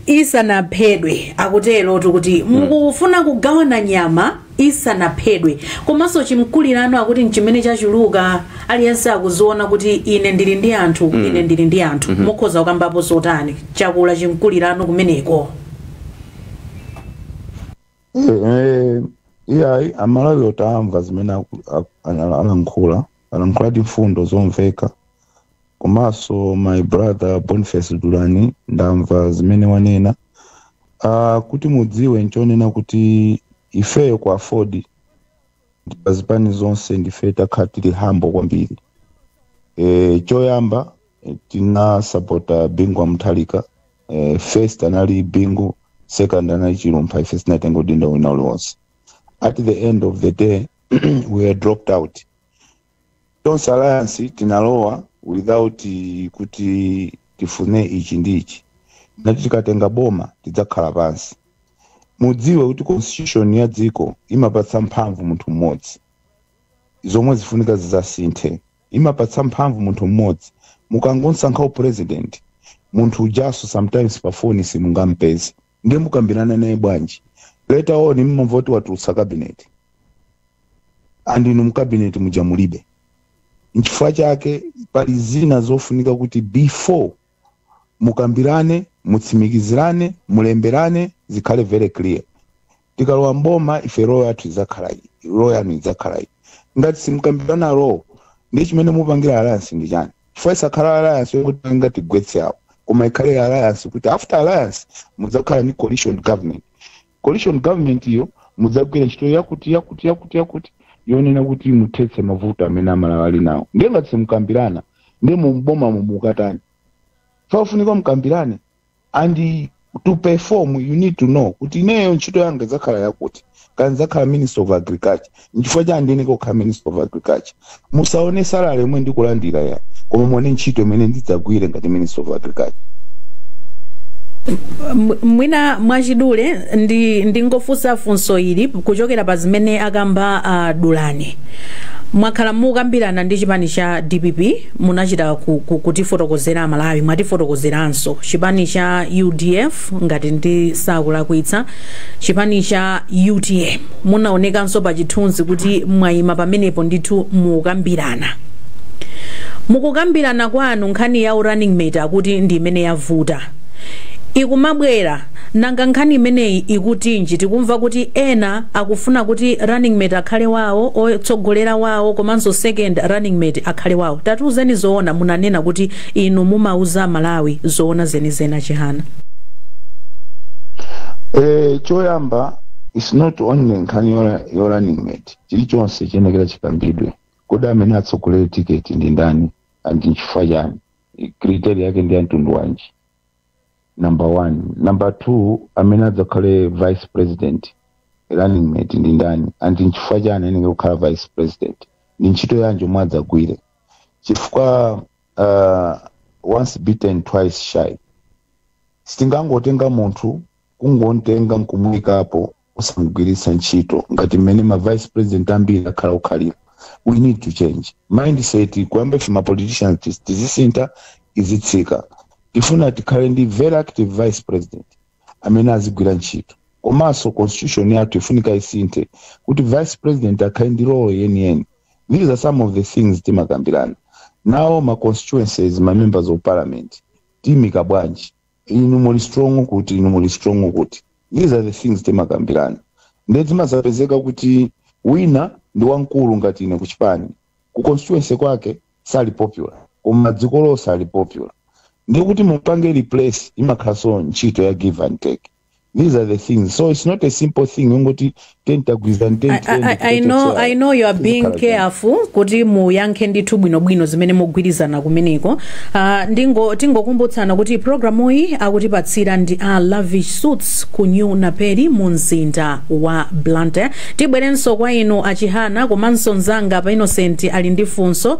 isanaphedwe akutero kuti mukufuna kugawana nyama isanaphedwe. Komanso chimkulirano akuti n'chimene chachuluka aliyense akudziona kuti ine ndili ndi anthu mm. ine ndili ndi anthu mm -hmm. mukhoza kukambapo zotani zakula chimkulirano kumeneko eh, iyayi eh, amalawiwo tamva zimene alankhula alankhuladi mfundo zomveka komanso my brother boniface dulani ndamva zimene wanena uh, kuti mudziwe nchonena kuti ifeyo ku aford pa zipani zonse ndife takhala tili humble kwambiri e, choyamba eh, tinasapota bingu wa mutharika e, first anali bingu second anali chilumpha ife sitinatenge udindo wina uliwonse at the end of the day we were dropped out tonse alliance tinalowa without kuti tifune ichi ndi ichi tinati tikatenga boma tidzakhala pansi mudziwe kuti constitution ya dziko imapatsa mphamvu munthu mmodzi zomwe zifunika zidzasinthe imapatsa mphamvu munthu mmodzi mukangonsankha upresident munthu ujanso sometimes pa foni simungampeze Ndiye mukambirana naye bwanji? Later on mumamva kuti watulutsa cabinet. And inu mu cabinet muja mulibe. Nchifukwa chake pali zina zofunika kuti before mukambirane, mutsimikizirane, mulemberane, zikhale very clear. tikalowa mboma ife role yathu idzakhala iyi role yanu idzakhala iyi ngati simukambirana role ndi chimene mupangira alliance ndi chani chifukwa isakhala alliance yokuti anga tigwetse awo koma ikhale alliance kuti after alliance mudzakhala ni coalition government coalition government iyo mudzagwira ntchito yakuti yakuti yakuti yakuti yonena kuti muthetse mavuto amene amalawi ali nawo ndiye ngati simukambirana ndiye mumboma mumukatani pafunika mukambirane and to perform you need to know kuti ineyo ntchito yanga idzakhala yakuti kaya ndidzakhala minister of agriculture nchifukwa chani ndiyeneka kukhala minister of agriculture musaone salary yomwe ndikulandira ayi koma muone ntchito imene ndidzagwire ngati minister of agriculture M- mwina mwachidule ndi ndingofunsa funso ili kuchokera pa zimene akamba uh, dulani mwakhala mukambirana ndi chipani cha dpp munachita ku, ku, kutifotokozera amalawi mwatifotokozeranso chipani cha udf ngati ndisakulakwitsa chipani cha utm munaonekanso pa chithunzi kuti mwayima pamenepo ndithu mukukambirana mukukambirana kwanu nkhani ya running mate akuti ndi imene yavuta ikumabwera nanga nkhani imeneyi ikutinji tikumva kuti ena akufuna kuti running mate akhale wawo otsogolera wawo komanso second running mate akhale wawo tatiuzeni zoona munanena kuti inu mumauza amalawi zoona zenizeni achihana Eh, choyamba is not only nkhani yola- yo running mate chilichonse chiyenekera chikambidwe kodi amene atsogolere tiketi ndi ndani and nchifukwa chani criteria yake ndi ya mtundu wanji number one number two amene adzakhale vice president running mate ndi ndani and nchifukwa chani ayeneka kukhala vice president ndi ntchito yanji yomwe adzagwire chifukwa uh, once bitten twice shy sitingangotenga munthu kungontenga nkumuyikapo osamgwiritsa ntchito ngati mmene ma vice president ambiri akhala akukhalira we need to change mindset kuyamba ife ma politicians tis- tizisintha izitsika tifuna tikhale ndi very active vice president amene azigwira ntchito komanso constitution yathu ifunika isinthe kuti vice president akhale ndi role yeniyeni these are some of the things timakambirana now ma constituencies ma members of parliament timika bwanji inu muli strong kuti inu muli strong kuti these are the things timakambirana nde zimazapezeka kuti wina ndi wamkulu ngati ine kuchipani ku constituency kwake sali popular koma dziko lonse sali popular ndiye kuti mupange replace imakhalanso ntchito ya give and take these are the things so it's not a simple thing ungoti tentagwirizana I, I, I, I, know, I know you are being careful kuti muyankhe ndithu bwinobwino zimene mugwirizana kumeneko uh, ndingo tingokumbutsana kuti programu iyi akutipatsira ndi a lavish suits ku new naperi mu mzinda wa blantyre tibwerenso kwa inu achihana komanso mzanga apa innocent ali ndi funso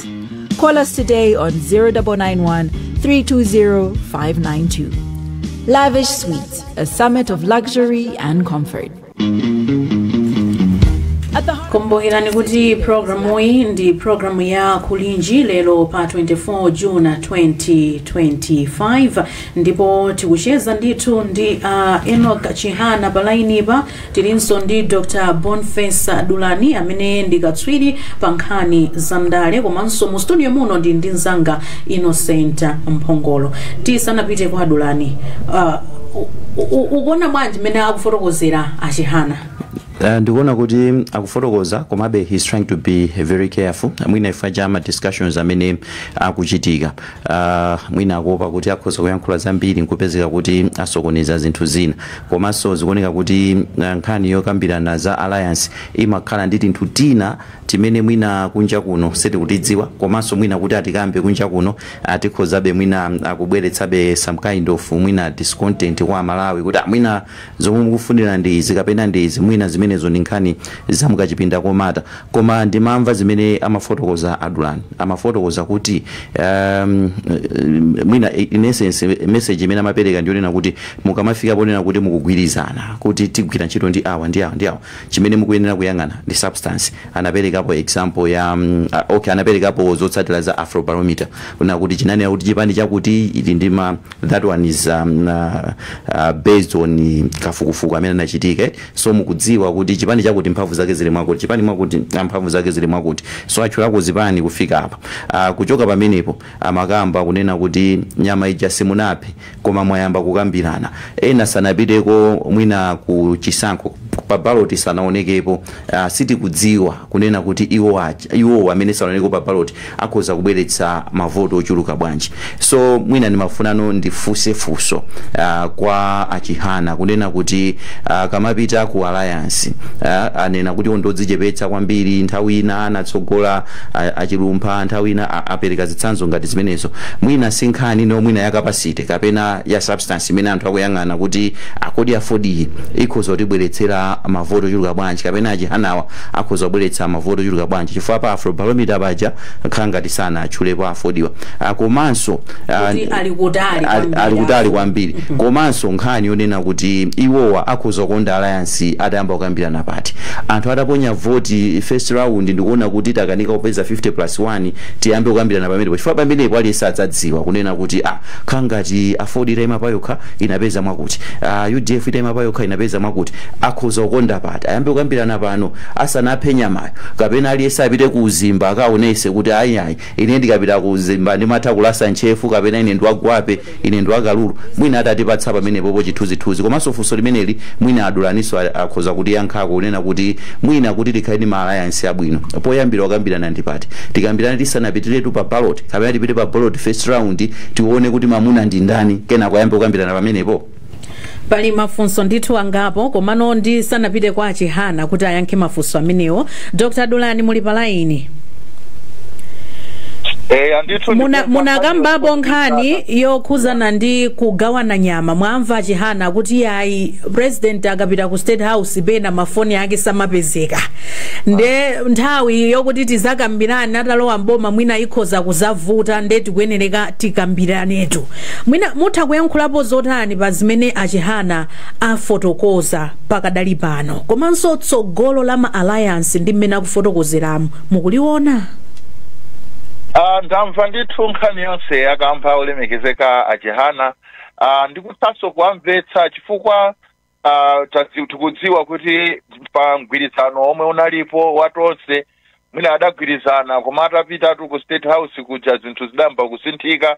Call us today on 0991 320 592. Lavish Suites, a summit of luxury and comfort. Kumbukirani kuti programu iyi ndi programu ya kulinji lero pa 24 june 2025 ndipo tikucheza ndithu ndi a Enock Chihana palainipa Tilinso ndi Dr Boniface Dulani amene ndi katswiri pa nkhani za ndale komanso mu studio muno ndili ndi mzanga Innocent Mphongolo. Tisanapite kwa Dulani, uh, ukuona bwanji mmene akufotokozera a Chihana? Uh, ndikuona kuti akufotokoza komabe he's trying to be very careful mwina chifukwa cha ma discussions amene akuchitika uh, mwina akuopa kuti akhoza kuyankhula zambiri nkupezeka kuti asokoneza zinthu zina komanso zikuoneka kuti uh, nkhani yokambirana za alliance imakhala ndi tinthu tina timene mwina kunja kuno sitikutidziwa komanso mwina kuti atikambe kunja kuno tikhozabe mwina kubweretsabe some kind of mwina discontent kwa amalawi kuti ah, mwina Zomwe mukufunira ndi izi kapena ndi izi, mwina zimenezo ndi nkhani za mukachipinda komata. Koma ndimamva zimene amafotokoza a Dulani. Amafotokoza kuti ehm, mwina in essence message imene amapereka ndiyonena kuti mukamafika ponena kuti mukugwirizana kuti tigwira ntchito ndi awa ndi awa ndi awa, chimene mukuyenera kuyang'ana ndi substance. Anaperekapo example ya mm, ah, okay, anaperekapo zotsatira za Afrobarometer kunena kuti chinanena kuti chipani chakuti ili ndi ma that one is um, uh, uh, based on kafukufuku amene anachitika so mukudziwa kuti chipani chakuti mphamvu zake zili mwakuti chipani mwakuti ah, mphamvu zake zili mwakuti so atchulako zipani kufika apa uh, kuchoka pamenepo amakamba kunena kuti nyama ija simunaphe koma mwayamba kukambirana ena sanapiteko mwina ku chisankho pa baloti sanaonekepo uh, sitikudziwa kunena kuti iwo aja, iwowo amene sanaonekeko pa ballot akhoza kubweretsa ma vote ochuluka bwanji. So mwina ndimafunano ndifunse funso kwa a Chihana kunena kuti akamapita ku alliance anena kuti iwo ndi odzichepetsa kwambiri, nthawi ina anatsogola a Chilumpha, nthawi ina apereka zitsanzo ngati zimenezo. Mwina si nkhanino mwina ya capacity kapena ya substance imene anthu akuyang'ana kuti kodi AFORD-yi ikhoza kutibweretsera ma vote ochuluka bwanji kapena a Chihanawa akhoza kubweretsa mavoti ochuluka bwanji chifukwa pa afrobarometer paja akhala ngati sanatchulepo a AFORD-wa Ah, komanso ah, Kuti ali kutali ali- kwambiri ali kutali apo. kwambiri komanso nkhani yonena kuti iwowa akhoza kukonda alliance atayamba kukambirana pati anthu ataponya voti first round ndi kuona kuti takanika kupeza 50 plus 1 tiyambe kukambirana pamenepo chifukwa pamenepo aliyense adzadziwa kunena kuti ah khala ngati AFORD itaima payokha inapeza mwakuti ah, udf itaima payokha inapeza mwakuti akhoza kukonda pati ati ayambe kukambirana pano asanaphe nyamayo kapena aliyense apite ku uzimba akaonese kuti ayi ayi ine ndikapita ku uzimba ndimatha kulasa ntchefu kapena ine ndi wa gwape ine ndi wa kalulu mwina atatipatsa pamenepopo chithunzithunzi komanso funso limeneli mwina a Dulaniso a- akhoza kutiyankhako kunena kuti mwina kuti tikhale ndi ma alliance abwino poyambira kukambirana ndi pati tikambirane tisanapitiretu pa ballot kapena tipite pa ballot first round tione kuti mamuna ndi ndani kenako ayambe kukambirana pamenepo Pali mafunso ndithu angapo, komano ndisanapite kwa a Chihana kuti ayankhe mafunso amenewo, Dr. Dulani muli pa laini. eya ndithu Muna- ndikumva munakambapo nkhani yokhuzana ndi kugawana nyama mwamva achihana kuti ayi president akapita ku state house pena mafoni ake samapezeka nde nthawi yokuti tizakambirane atalowa mboma mwina ikhoza kuzavuta nde tikuyenereka tikambiranetu Mwina mutha kuyankhulapo zotani pa zimene a Chihana afotokoza pakadali pano komanso tsogolo la ma alliance ndi mmene akufotokozeramu mukuliona? Uh, ndamva ndithu nkhani yonse akamba olemekezeka a Chihana uh, ndikuthanso kuwamvetsa chifukwa Ah, tadzi- tikudziwa kuti pa mgwirizano omwe unalipo wa tonse mwina adagwirizana koma atapitatu ku state house kuja zinthu zidayamba kusinthika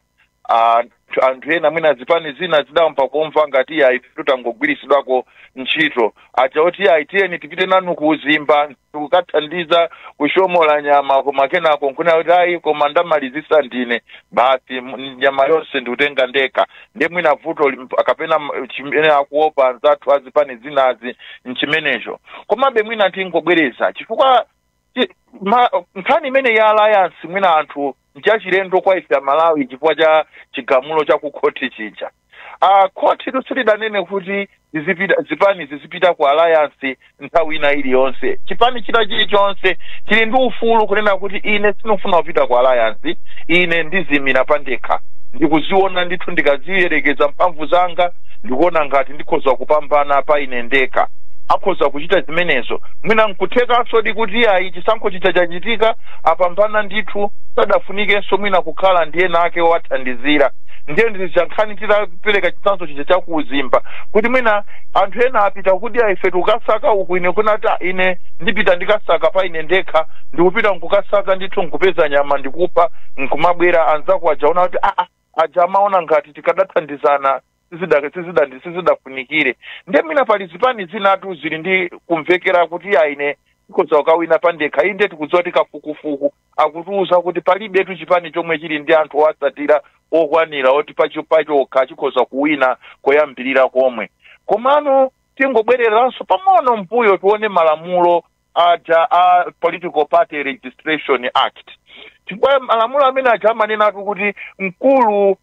Ah, anthu- anthu ena mwina zipani zina zidayamba kumva ngati ayi tidangogwiritsidwako ntchito aja oti ayi tiyeni tipite nanu ku uzimba kukathandiza kuchomola nyama koma kenako nkunena kuti ayi koma ndamalizisa ndine basi m- nyama yonse ndikutenga ndekha ndiye mwina vuto lim- kapena m- chimene akuopa anzathu azipani zinazi nchimenecho komabe mwina tingobwereza chifukwa chi- ma- nkhani imene ya alliance mwina anthu nchachilendo kwa ife amalawi chifukwa cha chigamulo cha kukhoti chija uh, khotitu silidanene kuti zi- zipani zizipita ku alliance nthawi ina iliyonse chipani china chilichonse chili ndi ufulu kunena kuti ine sindikufuna kupita ku alliance ine ndizimira pandekha ndikuziona ndithu ndikaziyerekeza mphamvu zanga ndikuona ngati ndikhoza kupambana pa ine ndekha akhoza kuchita zimenezo mwina nkuthekanso di kuti ayi chisankho chija chachitika apambana ndithu sadafunikenso mwina kukhala ndi wina wake wowathandizira ndiye ndi zija nkhani tidapereka chitsanzo chija cha ku uzimba kuti mwina anthu ena apita kuti ife tikasaka uku ine kunena kuti "Ah, ine ndipita ndikasaka pa ine ndekha ndikupita nkukasaka ndithu nkupeza nyama ndikupha nkumabwera anzako aja aona kuti aa aja amaona ngati tikadathandizana sizida- sizida- sizidafunikire ndiye mwina pali zipani zinatu zili ndi kumvekera kuti aine tikhoza kukawina pandekha inde tikudziwa kuti kafukufuku akutiuza kuti palibetu chipani chomwe chili ndi anthu owatsatira okwanira oti pacho- pachokha chikhoza kuwina koyambirira komwe komano tingobwereranso pang'ono mbuyo tione malamulo aja a political party registration act chifukwa malamulo amene aja amanenatu kuti mkulu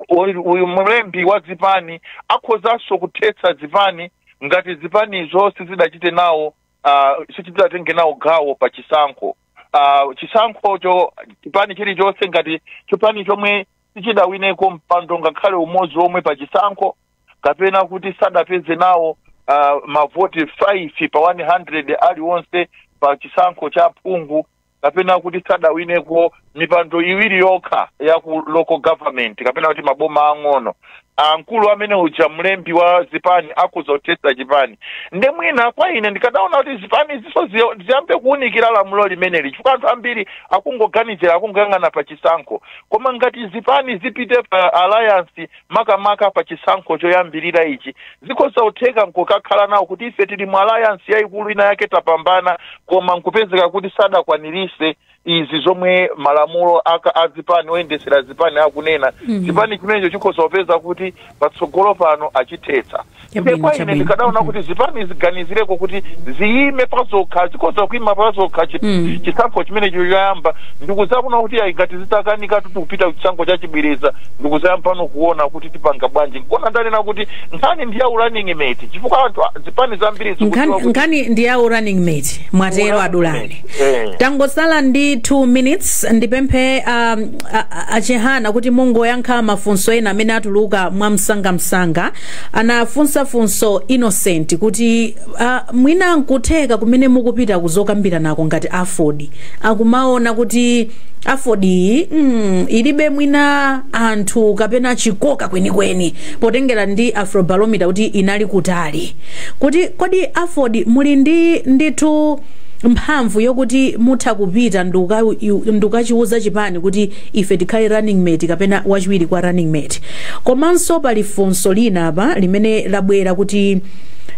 uyu uyu mlembi wa zipani akhozanso kuthetsa zipani ngati zipanizo sizidachite nawo uh, sichidatenge nawo gawo pa chisankho uh, chisankhocho chipani chilichonse ngati chipani chomwe sichidawineko mpando ngakhale umodzi omwe pa chisankho kapena kuti sadapeze nawo uh, mavoti 5 pa 100 aliwonse pa chisankho cha phungu kapena kuti sadawineko mipando iwiri yokha ya ku local government kapena kuti maboma ang'ono ah, mkulu amene uja mlembi wa zipani akhoza kuthetsa chipani nde mwina kwa ine ndikadaona kuti zipanizi zo- ziyo- ziyambe kuwunikira lamulo limeneli chifukwa anthu ambiri akungoganizira akungoyang'ana pa chisankho koma ngati zipani zipite pa alliance makamaka pa chisankho choyambirira ichi zikhoza kutheka nkukakhala nawo kuti ife tili mu alliance yayikulu ina yake tapambana koma nkupezeka kuti sadakwanirise izi zomwe malamulo a ka- a zipani oyendesera zipani akunena mm -hmm. chipani chimenecho chikhoza kupeza kuti patsogolo pano achithetsa Chabwino, kwa ine chabwino. ndikadaona Mhm. kuti zipani ziganizireko kuti ziyime pazokha zikhoza kuima pazokha chi- Mm. chisankho chimenecho choyamba ndikuzaona kuti ayi ngati zitakanika kuti kupita kuchisankho chachibwereza ndikuzayambano kuona kuti tipanga bwanji nkona ndanena kuti nkhani ndi ya running mate chifukwa anthu a- zipani zambiri zikudziwa Nkhani- kuti- nkhani ndi ya running mate mwatero Running a Dulani mate, eh. tangosala ndi 2 minutes ndipemphe um, a- a- a Chihana kuti mungoyankha mafunso ena amene atuluka mwa msangamsanga anafunsa funso Innocent kuti ah, mwina nkutheka kumene mukupita kuzokambiranako ngati Aford akumaona kuti Aford iyi mm, ilibe mwina anthu kapena chikoka kwenikweni potengera ndi Afrobarometer kuti inali kutali kuti kodi Aford muli ndi ndithu mphamvu yokuti mutha kupita nduka- u- ndukachiwuza chipani kuti ife tikhale running mate kapena wachiwiri kwa running mate komanso pali funso lina apa limene labwera kuti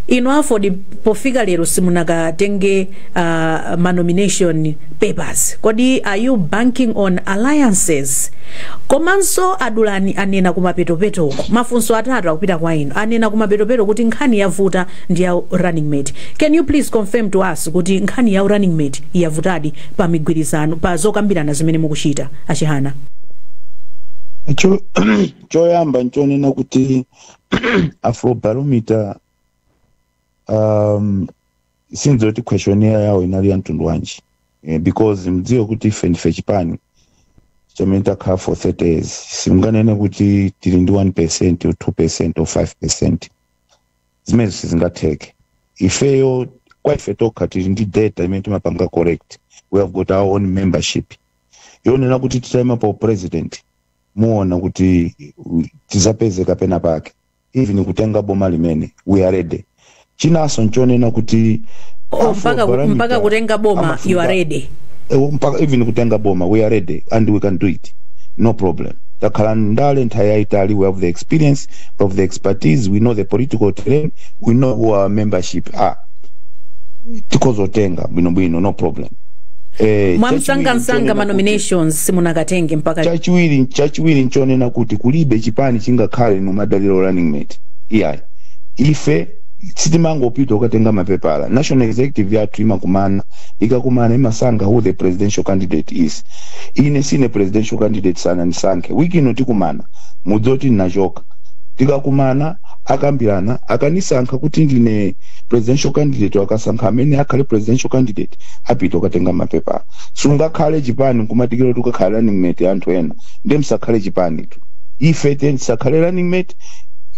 inu Aford pofika lero simunakatenge uh, ma nomination papers kodi are you banking on alliances komanso a Dulani anena kumapetopeto uko mafunso atatu akupita kwa inu anena kumapetopeto kuti nkhani yavuta ndi ya running mate can you please confirm to us kuti nkhani ya running mate yavutadi pa migwirizano pa zokambirana zimene mukuchita a Chihana? Cho, choyamba nchonena kuti afrobarometer um, sindidziwa kuti questionnaire yawo inali ya mtundu wanji eh, because mdziwe kuti ife ndife chipani chamene takhala for 30 years simunganene kuti tili ndi 1 percent or 2 percent or 5 percent zimenezi sizingatheke ifeyo kwa ife tokha tili ndi data imene timapanga collect we have got our own membership yonena kuti titayima pa upresident muona kuti uh, tizapezeka penapake even kutenga boma limene we are ready chinanso nchonena kuti Oh, mpaka, mpaka kutenga boma you are ready Eh, mpaka even kutenga boma we are ready and we can do it no problem takhala ndale nthawi yayitali we have the experience of the expertise we know the political terrain we know who our membership are tikhoza kutenga bwinobwino no problem eh, mwamsangamsanga chachiwiri- manominations simunakatenge mpaka chachiwiri chachiwiri nchonena kuti kulibe chipani chingakhale kumadalira running mate iyayi ife sitimangopita kukatenga mapepala national executive yathu imakumana ikakumana imasankha who the presidential candidate is ine sine presidential candidate sanandisankhe wiki ino tikumana mudziwe kuti ndinachoka tikakumana akambirana akanisankha kuti ndine presidential candidate akasankha amene akhale presidential candidate apite kukatenga mapepala sungakhale chipani nkumadikira kuti ukakhale running mate wa anthu ena ndiye msakhale chipanitu ife tisakhale running mate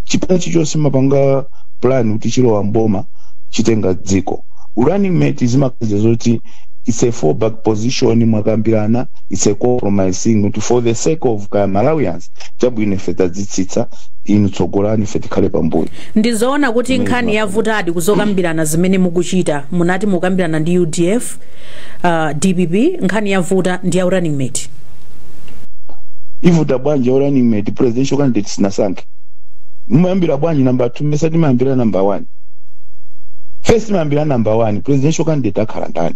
chipani chilichonse chimapanga plan kuti chilowa mboma chitenga dziko running mate zimakhala zoti it's a fallback position mwakambirana it's a compromising kuti for the sake of Malawians chabwino ife tadzitsitsa inu tsogolani ife tikhale pambuyo ndizoona kuti nkhani yavutadi kuzokambirana zimene mukuchita munati mukambirana ndi udf uh, dpp nkhani yavuta ndi ya running mate ivuta bwanji ya running mate presidential candidate sitinasankhe mumayambira bwanji namba 2 mesa timayambira namba 1 first timayambira number one presidential candidate akhala ndani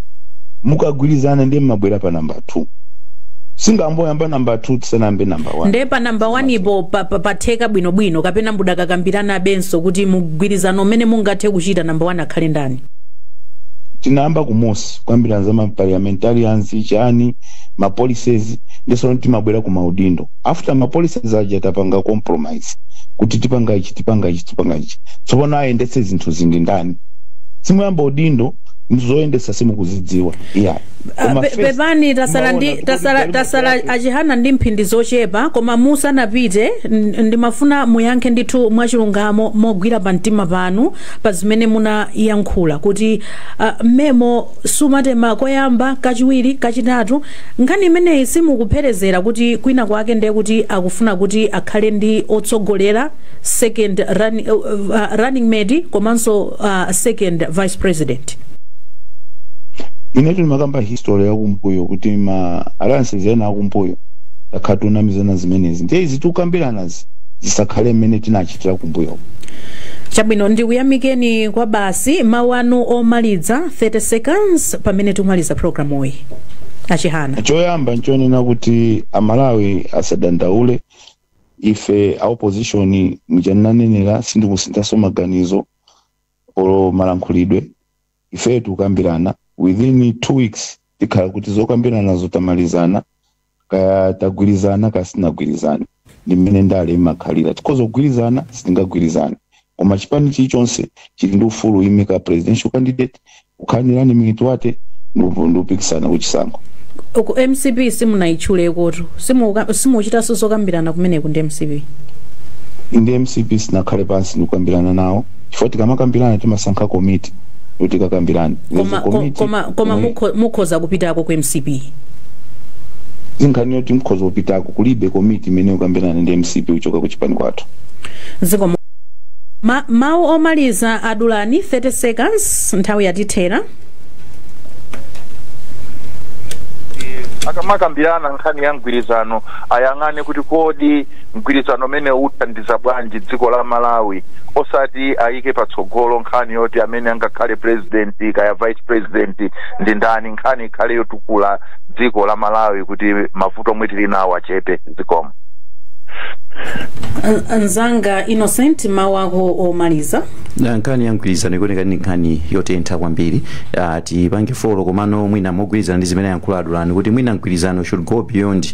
mukagwirizana ndiye mmabwera pa number two sitingayambe number two tisanayambe number one nde pa namba 1 po pa- pa- patheka bwinobwino kapena mudakakambiranabenso kuti mugwirizana mmene mungathe kuchita namba 1 akhale ndani tinayamba kumusi kukambirana za maparliamentarians chani mapolicies ndisono timabwera ku maudindo after ma policies aja tapanga compromise kuti tipanga ichi tipanga ichi tipanga ichi tsopano ayendetse zinthu zindi ndani simuyamba udindo zoyendesa simukuzidziwa yeah pepani tasala achihana ndi mphindi zochepa koma musanapite ndimafuna muyankhe ndithu mwachilungamo mogwira pa mtima panu pa zimene munayankhula kuti mmemo sumatema koyamba kachiwiri kachitatu Nkhani imeneyi simukupherezera kuti kwina kwake ndiye kuti akufuna kuti akhale ndi otsogolera, second running mate komanso second vice president? Inetu ndimakamba history yakumbuyo kuti ma alliances ena akumbuyo takhala tikunamizana zimenezi ndiye izi tikukambiranazi zisakhale mmene tinachitira kumbuyo. Chabwino, ndikuyamikeni kwabasi. Mawu anu omaliza? 30 seconds pamene tikumaliza programuyi achihana choyamba nchonena kuti amalawi asadandaule ife a opposition muja ndanenera sindikusinthaso maganizo olo malankhulidwe ife tikukambirana within two weeks tikhala kuti zokambiranazo tamalizana kaya tagwirizana kaya sitinagwirizane ndi mmene ndale imakhalira tikhoza kugwirizana sitingagwirizane koma chipani chilichonse chili ndi ufulu woimika presidential candidate kukhala ndi running mate wake ndikupikisana kuchisankho ku mcp simunayitchulekotu simukuchitanso zokambirana kumeneku ndi mcp ndi mcp sitinakhale pansi ndikukambirana nawo chifukwa tikamakambirana timasankha komiti kuti tikakambirane koma mukhoza kupitako ku mcp si nkhani yoti mukhoza kupitako kulibe komiti imene ikukambirana ndi mcp kuchoka ku chipani kwathu zikomo mawu omaliza adulani 30 seconds nthawi yatithera akamakambirana nkhani ya mgwirizano ayang'ane kuti kodi mgwirizano umenewu uthandiza bwanji dziko la malawi osati ayike patsogolo nkhani yoti amene angakhale president kaya vice president ndi ndani nkhani ikhale yotukula dziko la malawi kuti mavuto omwe tili nawo achepe zikomo mnzanga innocent mawu ako omaliza nkhani ya mgwirizano ikuoneka ndi nkhani yotentha kwambiri uh, tipange folo komano mwina mogwirizana ndi zimene ayankhula adulani kuti mwina mgwirizano should go beyond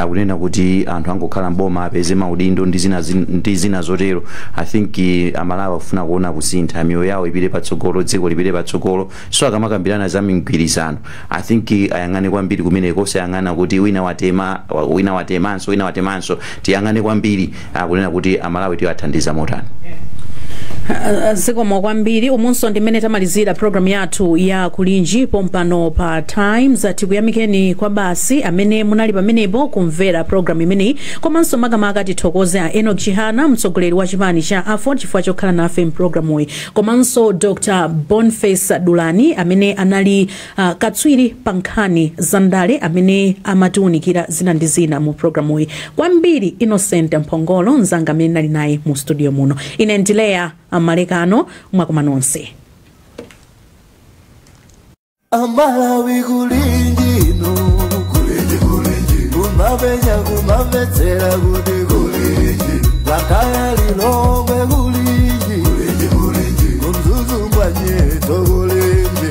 kunena kuti anthu angokhala mboma apeze maudindo ndi zina, ndi zina zotero i think amalawi akufuna kuona kusintha miyoyo yawo ipite patsogolo dziko lipite patsogolo so akamakambirana za migwirizano i think ayang'ane kwambiri kumeneko osayang'ana kuti wina watema wina watemanso wina watemanso tiyang'ane kwambiri akunena kuti amalawi tiwathandiza motani Uh, zikomo kwambiri umunso ndi mmene tamalizira programu yathu ya kulinji pompano pa times tikuyamikeni kwabasi amene munali pamenepo kumvera programu imeneyi komanso makamaka tithokoze a enoch chihana mtsogoleri wa chipani cha aford chifukwa chokhala nafe mu programuyi komanso dr boniface dulani amene anali Katswiri pa nkhani za ndale amene amatiunikira zina ndi zina mu programuyi. Kwambiri Innocent Mphongolo nzanga amene ndinali naye mu studio muno. Ine ndi Leah Malekano mwakoma nonse. amalawi kulinji no kulinji kulinji kumavenya kumvetsera kuti kulinji lakaya lilongwe kulinji kulinji kulinji ku mzuzu mwanyeto kulinji